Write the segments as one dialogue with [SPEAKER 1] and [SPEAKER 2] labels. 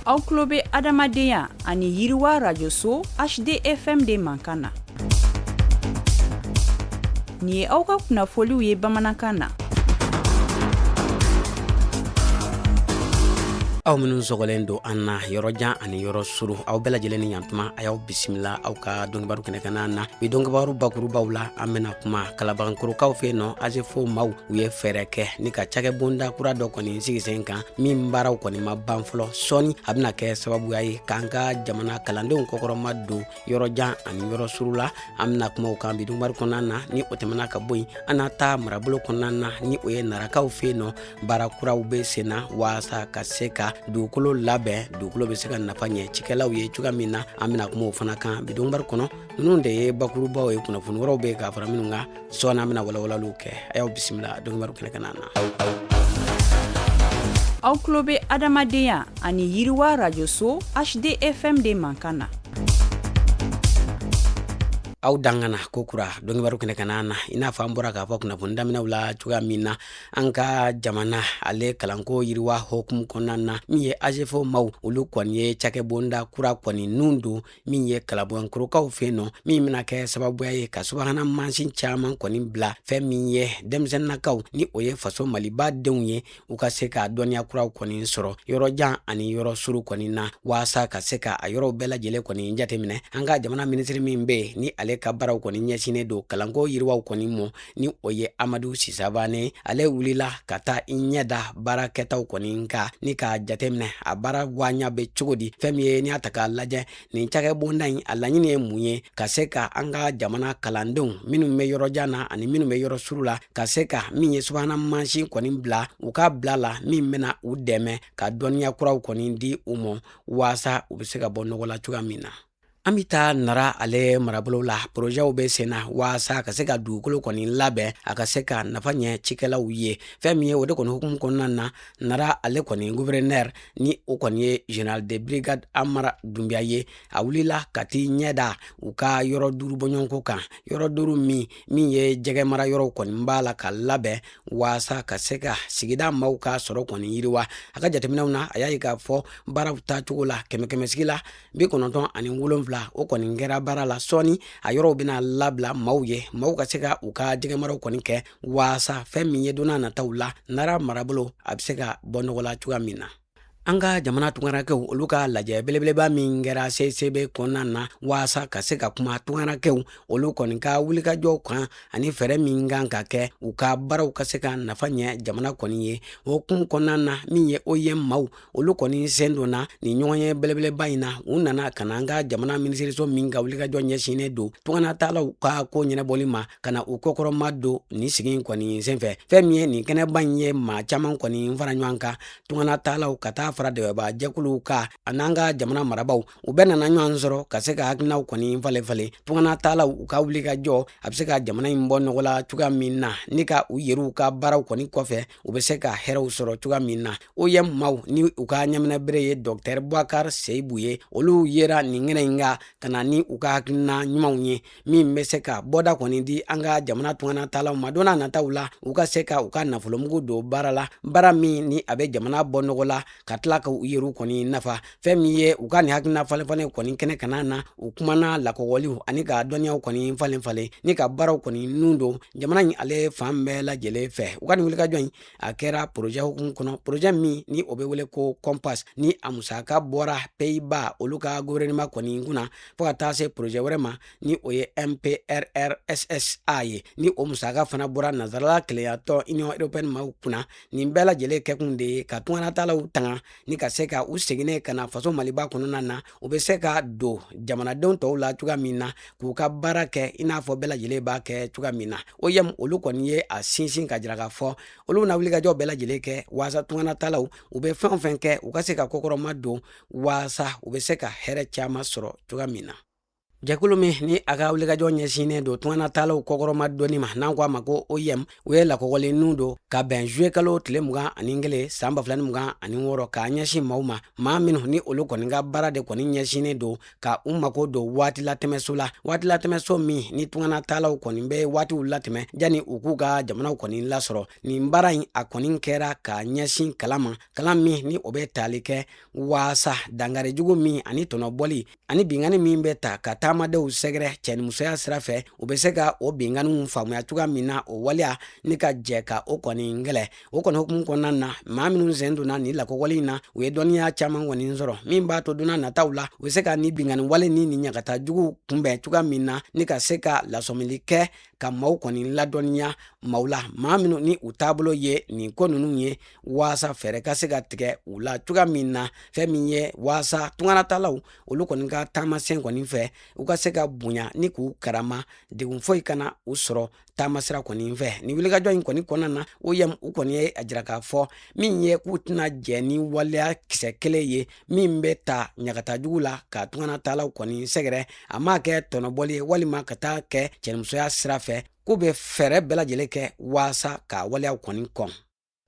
[SPEAKER 1] aw tulo bɛ adamadenya ani yiriwa rajoso hdfm de mankan na nin ye aw ka kunnafoliw ye bamanankan na
[SPEAKER 2] aw minnu sɔgɔlen don an na yɔrɔjan ani yɔrɔ suru aw bɛɛ lajɛlen ni yantuma a y'aw bisimila aw ka dɔnkibaru kɛnɛ kan na bi dɔnkibaru bakurubaw la an bɛna kuma kalabankorokaw fɛ yen nɔ azefo maw u ye fɛɛrɛ kɛ ni ka cakɛ bonda kura dɔ kɔni sigi sen kan min baaraw kɔni ma ban fɔlɔ sɔɔni a bɛna kɛ sababuya ye k'an ka jamana kalandenw kɔkɔrɔma don yɔrɔjan ani yɔrɔ suru la an bɛna kuma o kan bi dɔnkibaru kɔnɔna na ni o tɛmɛna ka bɔ yen an na taa marabolo kɔnɔna na ni o ye narakaw fɛ yen nɔ baara kuraw bɛ sen na waasa ka se ka dugukolo labɛn dugukolo bɛ se ka nafa ɲɛ cikɛlaw ye cogoya min na an bɛna kuma o fana kan bi dɔnkibaru kɔnɔ ninnu de ye bakurubaw ye kunnafoni wɛrɛw bɛ ka fara minnu kan sɔɔni an bɛna walawalaliw kɛ a y'aw bisimila dɔnkibaru kɛnɛ kan
[SPEAKER 1] na aw tulo bɛ adamadenya ani yiriwa rajoso hdfm de mankan na
[SPEAKER 2] aw dangana ko kura dɔnkibaru kɛnɛ kan na i n'a fɔ an bɔra k'a fɔ kunnafoni daminɛw la cogoya min na an ka jamana ale kalanko yiriwa hokumu kɔnɔna na min ye azefo maw olu kɔni ye cakɛbonda kura kɔni nun don min ye kalabankorokaw fɛ nɔ min bena kɛ sababuya ye ka subahana mansin caaman kɔni bila fɛn min ye denmisɛnninakaw ni o ye faso maliba denw ye u ka se ka dɔnniya kuraw kɔni sɔrɔ yɔrɔjan ani yɔrɔ suru kɔni na waasa ka se ka a yɔrɔw bɛɛ lajɛlen kɔni jateminɛ an ka jamana minisiri min be yen ni ale ka baaraw kɔni ɲɛsinnen don kalanko yiriwaw kɔni mɔ ni o ye amadu si savane ale wulila ka taa i ɲɛ da baara kɛtaw kɔni kan ni k'a jateminɛ a baara gwanya be cogo di fɛn min ye n'i y'a ta k'a lajɛ nin cakɛ bonda in a laɲini ye mun ye ka se ka an ka jamana kalandenw minnu be yɔrɔjan na ani minnu be yɔrɔ suru la ka se ka min ye subahana mansin kɔni bila u ka bila la min bena u dɛmɛ ka dɔnniya kuraw kɔni di u mɔ waasa u be se ka bɔ nɔgɔ la cogoya min na an bɛ taa nara ale marabolo la porozɛw bɛ sen na walasa ka se ka dugukolo kɔni labɛn a ka se ka nafa ɲɛ cikɛlaw ye fɛn min ye o de kɔni hukumu kɔnɔna na nara ale kɔni gouverneur ni o kɔni ye général de brigade amara dunbiya ye a wulila ka t'i ɲɛda u ka yɔrɔ duuru bɔɲɔgɔnko kan yɔrɔ duuru min min ye jɛgɛ mara yɔrɔ kɔni b'a la ka labɛn walasa ka se ka sigida maaw ka sɔrɔ kɔni yiriwa a ka jateminɛw na a y'a ye k'a fɔ baaraw taacogo la kɛmɛkɛmɛsigi la bi kɔnɔntɔn ani wolonfila o kɔni kɛra baara la sɔɔni a yɔrɔw bena labila maw ye maw ka se ka u ka jɛgɛmaraw kɔni kɛ waasa fɛɛn min ye donna nataw la nara marabolo a be se ka bɔ nɔgɔ la cogoya min na an ka jamana tungarakɛw olu ka lajɛ belebeleba min kɛra cicb kɔnɔna na waasa ka se ka kuma tungarakɛw olu kɔni ka wulikajɔw kan ani fɛɛrɛ min kan ka kɛ u ka baaraw ka se ka nafa ɲɛ jamana kɔni ye o hukumu kɔnɔna na min ye oim maw olu kɔni sen donna nin ɲɔgɔnye belebeleba in na u nana ka na an ka jamana minisiriso min ka wulikajɔ ɲɛsinnen don tunganatalaw ka ko ɲɛnɛbɔli ma ka na u kɔkɔrɔma don nin sigi in kɔni senfɛ fɛɛn min ye nin kɛnɛba in ye maa caman kɔni fara ɲɔgɔn kan tunganatalaw ka taa fara dɛbɛba jɛkuluw kan ani an ka jamana marabaw u bɛɛ nana ɲɔgɔn sɔrɔ ka se ka hakilinaw kɔni falen falen tungana taalaw u ka wulikajɔ a bɛ se ka jamana in bɔ nɔgɔ la cogoya min na ni ka u yɛrɛw ka baaraw kɔni kɔfɛ u bɛ se ka hɛrɛw sɔrɔ cogoya min na oim maw ni u ka ɲɛminɛbere ye dɔktɛr bubakar seyibu ye olu yera nin kɛnɛ in kan ka na ni u ka hakilina ɲumanw ye min bɛ se ka bɔda kɔni di an ka jamana tungana taalaw ma donna nataw la u ka se ka u ka nafolomugu don baara la baara min ni a bɛ jamana bɔ nɔgɔ la ka tila ka u yɛrɛw kɔni nafa fɛn min ye u ka nin hakilina falenfalen kɔni kɛnɛ kanna na u kumana lakɔgɔliw ani ka dɔnniyaw kɔni falen falen ni ka baaraw kɔni nun don jamana in ale fan bɛɛ lajɛlen fɛ u ka nin wulikajɔ in a kɛra porojɛ hukumu kɔnɔ porojɛ min ni o bɛ wele ko kɔnpas ni a musaka bɔra peyiba olu ka guvɛrɛnima kɔni kunna fɔɔ ka taa se porojɛ wɛrɛ ma ni o ye mprrssa ye ni o musaka fana bɔra nansarala kelenyatɔn union européenne maw kunna nin bɛɛ lajɛlen kɛkun de ye ka tunganatalaw tanga ni ka se ka u seginnen ka na faso maliba kɔnɔna na u bɛ se ka don jamanadenw tɔw la cogoya min na k'u ka baara kɛ i n'a fɔ bɛɛ lajɛlen b'a kɛ cogoya min na oim olu kɔni ye a sinsin ka jira k'a fɔ olu na wulikajɔ bɛɛ lajɛlen kɛ waasa tungana taalaw u bɛ fɛn o fɛn kɛ u ka se ka kɔkɔrɔma don waasa u bɛ se ka hɛrɛ caman sɔrɔ cogoya min na jɛkulu min ni a ka wulikajɔ ɲɛsinnen don tungana taalaw kɔkɔrɔma donni ma n'an ko a ma ko oim u ye lakɔgɔli nun don ka bɛn zuye kalo tile mugan ani kelen san ba fila ni mugan ani wɔɔrɔ k'a ɲɛsin maw ma maa minnu ni olu kɔni ka baara de kɔni ɲɛsinnen don ka u mako don waati latɛmɛso la waati latɛmɛso min ni tungana taalaw kɔni bɛ waatiw latɛmɛ jani u k'u ka jamanaw kɔni lasɔrɔ nin baara in a kɔni kɛra k'a ɲɛsin kalan ma kalan min ni o bɛ tali kɛ waasa dangari jugu min ani tɔnɔbɔli ani bingani min bɛ taa ka taamadenw sɛgɛrɛ cɛnimusoya sira fɛ u bɛ se ka o binganiw faamuya cogoya min na o waleya ni ka jɛ ka o kɔni kɛlɛ o kɔni hukumu kɔnɔna na maa minnu sen donna nin lakɔgɔli in na u ye dɔnniya caman kɔni sɔrɔ min b'a to donna nataw la u bɛ se ka nin bingani wale ni nin ɲagata jugu kunbɛn cogoya min na ni ka se ka lasɔmili kɛ ka maaw kɔni ladɔnniya maaw la maa minnu ni u taabolo ye nin ko ninnu ye waasa fɛɛrɛ ka se ka tigɛ u la cogoya min na fɛn min ye waasa tunganataalaw olu kɔni ka taamasen kɔni fɛ u ka se ka bonya ni k'u karama degun foyi kana u sɔrɔ taamasira kɔni fɛ nin wulikajɔ in kɔni kɔnɔna na OIM u kɔni ye a jira k'a fɔ min ye k'u tɛna jɛn ni waleya kisɛ kelen ye min bɛ ta ɲangata jugu la ka tunganataalaw kɔni sɛgɛrɛ a ma kɛ tɔnɔbɔli ye walima ka taa kɛ cɛnimusoya sira fɛ k'u bɛ fɛɛrɛ bɛɛ lajɛlen kɛ waasa ka waleyaw kɔni kɔn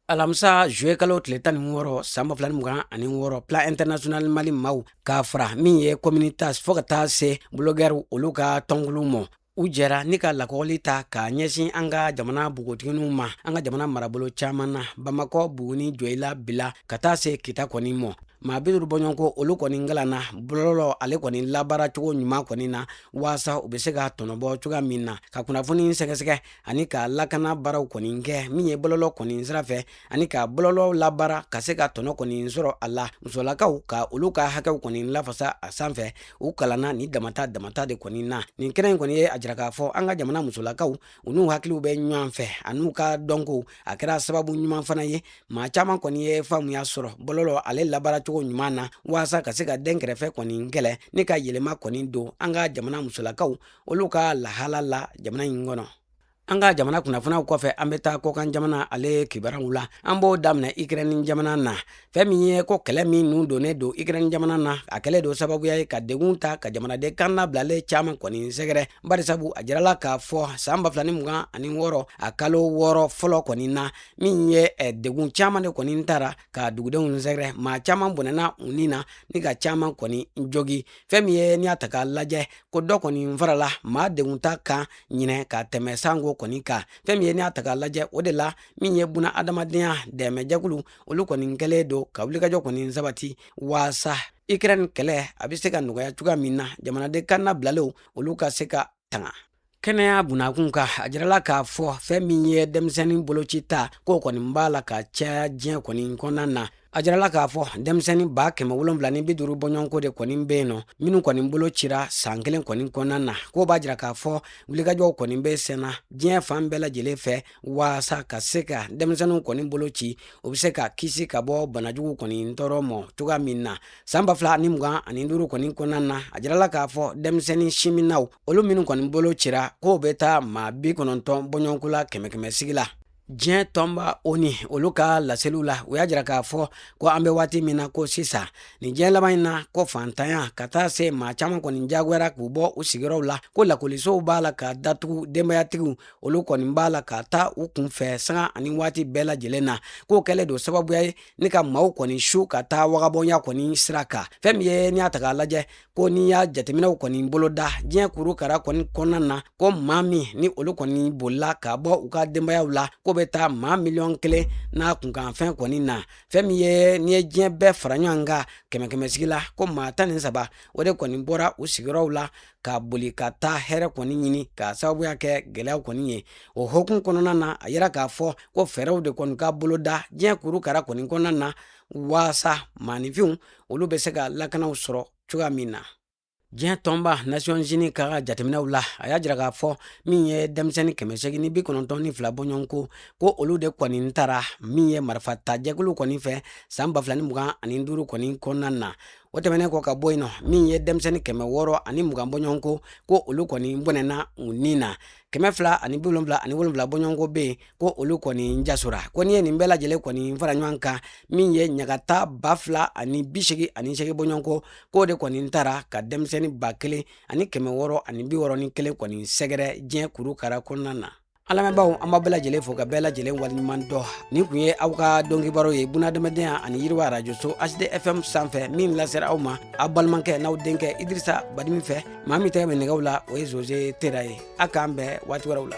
[SPEAKER 2] alamisa juwe kalo tile tan ni wɔɔrɔ san ba fila ni mugan ani wɔɔrɔ plan international mali maaw k'a fara min ye communitas fo ka taa se bulogɛriw olu ka tɔnkulu mɔ u jɛra ni ka lakɔli ta k'a ɲɛsin an ka jamana npogotigininw ma an ka jamana marabolo caaman na bamakɔ buguni joyila bila ka taa se kita kɔni mɔ maa bi duuru bɔɲɔgɔnko olu kɔni kalanna bɔlɔlɔ ale kɔni labaara cogo ɲuman kɔni na waasa u bɛ se ka tɔnɔ bɔ cogoya min na ka kunnafoni sɛgɛsɛgɛ ani ka lakana baaraw kɔni kɛ min ye bɔlɔlɔ kɔni sira fɛ ani ka bɔlɔlɔ labaara ka se ka tɔnɔ kɔni sɔrɔ a la musolakaw ka olu ka hakɛw kɔni lafasa a sanfɛ u kalanna ni damata damata de kɔni na nin kɛnɛ in kɔni ye a jira k'a fɔ an ka jamana musolakaw u n'u hakiliw bɛ ɲɔgɔn fɛ an'u ka dɔnko a kɛra sababu ɲuman fana ye maa caman kɔni ye faamuya sɔrɔ bɔlɔlɔ ale labaara cogo ɲuman na waasa ka se ka dɛnkɛrɛfɛ kɔni kɛlɛ ni ka yɛlɛma kɔni don an ka jamana musolakaw olu ka lahala la jamana in kɔnɔ an ka jamana kunnafoniyaw kɔfɛ an bɛ taa kɔkan jamana ale kibaruyaw la an b'o daminɛ ikrɛni jamana na fɛn min ye ko kɛlɛ min nun donnen don ikrɛni jamana na a kɛlen don sababuya ye ka degun ta ka jamanaden kannabilalen caaman kɔni sɛgɛrɛ barisabu a jirala k'a fɔ san ba fila ni mugan ani wɔɔrɔ a kalo wɔɔrɔ fɔlɔ kɔni na min ye eh, degun caaman de kɔni tara ka dugudenw sɛgɛrɛ maa caman bɔnɛna u ni na ni ka caman kɔni jogi fɛn min ye n'i y'a ta k'a lajɛ ko dɔ kɔni farala maa degun ta kan ɲinan ka tɛmɛ sanko kɔni kan fɛn min ye n'i y'a ta k'a lajɛ o de la min ye bunadamadenya dɛmɛjɛkulu olu kɔni kɛlen don ka wulikajɔ kɔni sabati waasa ukraine kɛlɛ a bɛ se ka nɔgɔya cogoya min na jamanaden kannabilalenw olu ka se ka tanga kɛnɛya bunda kunkan a jirala k'a fɔ fɛn min ye denmisɛnnin boloci ta k'o kɔni b'a la ka caya diɲɛ kɔni kɔnɔna na a jirala k'a fɔ denmisɛnnin ba kɛmɛ wolonwula ni bi duuru bɔɲɔgɔnko de kɔni bɛ yen nɔ minnu kɔni bolocira san kelen kɔni kɔnɔna na k'o b'a jira k'a fɔ wulikajɔw kɔni bɛ senna diɲɛ fan bɛɛ lajɛlen fɛ waasa ka se ka denmisɛnninw kɔni bolo ci u bɛ se ka kisi ka bɔ banajugu kɔni tɔɔrɔ mɔ cogoya min na san ba fila ni mugan ani duuru kɔni kɔnɔna na a jirala k'a fɔ denmisɛnnin sinminnaw olu minnu kɔni bolocira k'o bɛ taa maa bi kɔnɔntɔn bɔɲɔgɔnko la kɛmɛ kɛmɛ sigi la diɲɛ tɔnba ONU olu ka laseliw la u y'a jira k'a fɔ ko an bɛ waati min na ko sisan nin diɲɛ laban in na ko fantanya ka taa se maa caman kɔni jagoyara k'u bɔ u sigiyɔrɔw la ko lakɔlisow b'a la ka datugu denbayatigiw olu kɔni b'a la ka taa u kun fɛ sanga ani waati bɛɛ lajɛlen na k'o kɛlen don sababuya ye ni ka maaw kɔni su ka taa wagabɔnya kɔni sira kan fɛn min ye n'i y'a ta k'a lajɛ ko n'i y'a jateminɛw kɔni boloda diɲɛ kurukara kɔni kɔnɔna na ko maa min ni olu kɔni bolila ka bɔ u ka denbayaw la ko bɛ taa maa miliyɔn kelen n'a kunkanfɛn kɔni na fɛn min ye n'i ye diɲɛ bɛɛ fara ɲɔgɔn kan kɛmɛ kɛmɛ sigi la ko maa tan ni saba o de kɔni bɔra u sigiyɔrɔw la ka boli ka taa hɛrɛ kɔni ɲini k'a sababuya kɛ gɛlɛyaw kɔni ye o hukumu kɔnɔna na a yira k'a fɔ ko fɛɛrɛw de kɔni ka boloda diɲɛ kurukara kɔni kɔnɔna na waasa maaninfinw olu bɛ se ka lakanaw sɔrɔ cogoya min na diɲɛ tɔnba nasiyɔnzini ka jateminɛw la a y'a jira k'a fɔ min ye denmisɛnnin kɛmɛ segin ni bi kɔnɔntɔn ni fila bɔɲɔgɔnko ko olu de kɔni tara min ye marifata jɛkulu kɔni fɛ san ba fila ni mugan ani duuru kɔni kɔnɔna na o tɛmɛnen kɔ ka bɔ yen nɔ min ye denmisɛnnin kɛmɛ wɔɔrɔ ani mugan bɔɲɔgɔnko ko olu kɔni bɔnɛna u ni na kɛmɛ fila ani bi wolonwula ani wolonwula bɔɲɔgɔnko bɛ yen ko olu kɔni jasora ko n'i ye nin bɛɛ lajɛlen kɔni fara ɲɔgɔn kan min ye ɲagata ba fila ani bi segi ani segi bɔɲɔgɔnko k'o de kɔni taara ka denmisɛnnin ba kelen ani kɛmɛ wɔɔrɔ ani bi wɔɔrɔ ni kelen kɔni sɛgɛrɛ diɲɛ kurukara kɔnɔna na An lamɛnbaaw an b'a bɛɛ lajɛlen fo ka bɛɛ lajɛlen waleɲuman dɔn nin tun ye aw ka dɔnkibaru ye bunadamadenya ani yiriwa arajoso HDFM sanfɛ min lasera aw ma aw balimakɛ n'aw denkɛ idrisa badimi fɛ maa min tɛgɛ bɛ nɛgɛw la o ye zoze tera ye aw k'an bɛn waati wɛrɛw la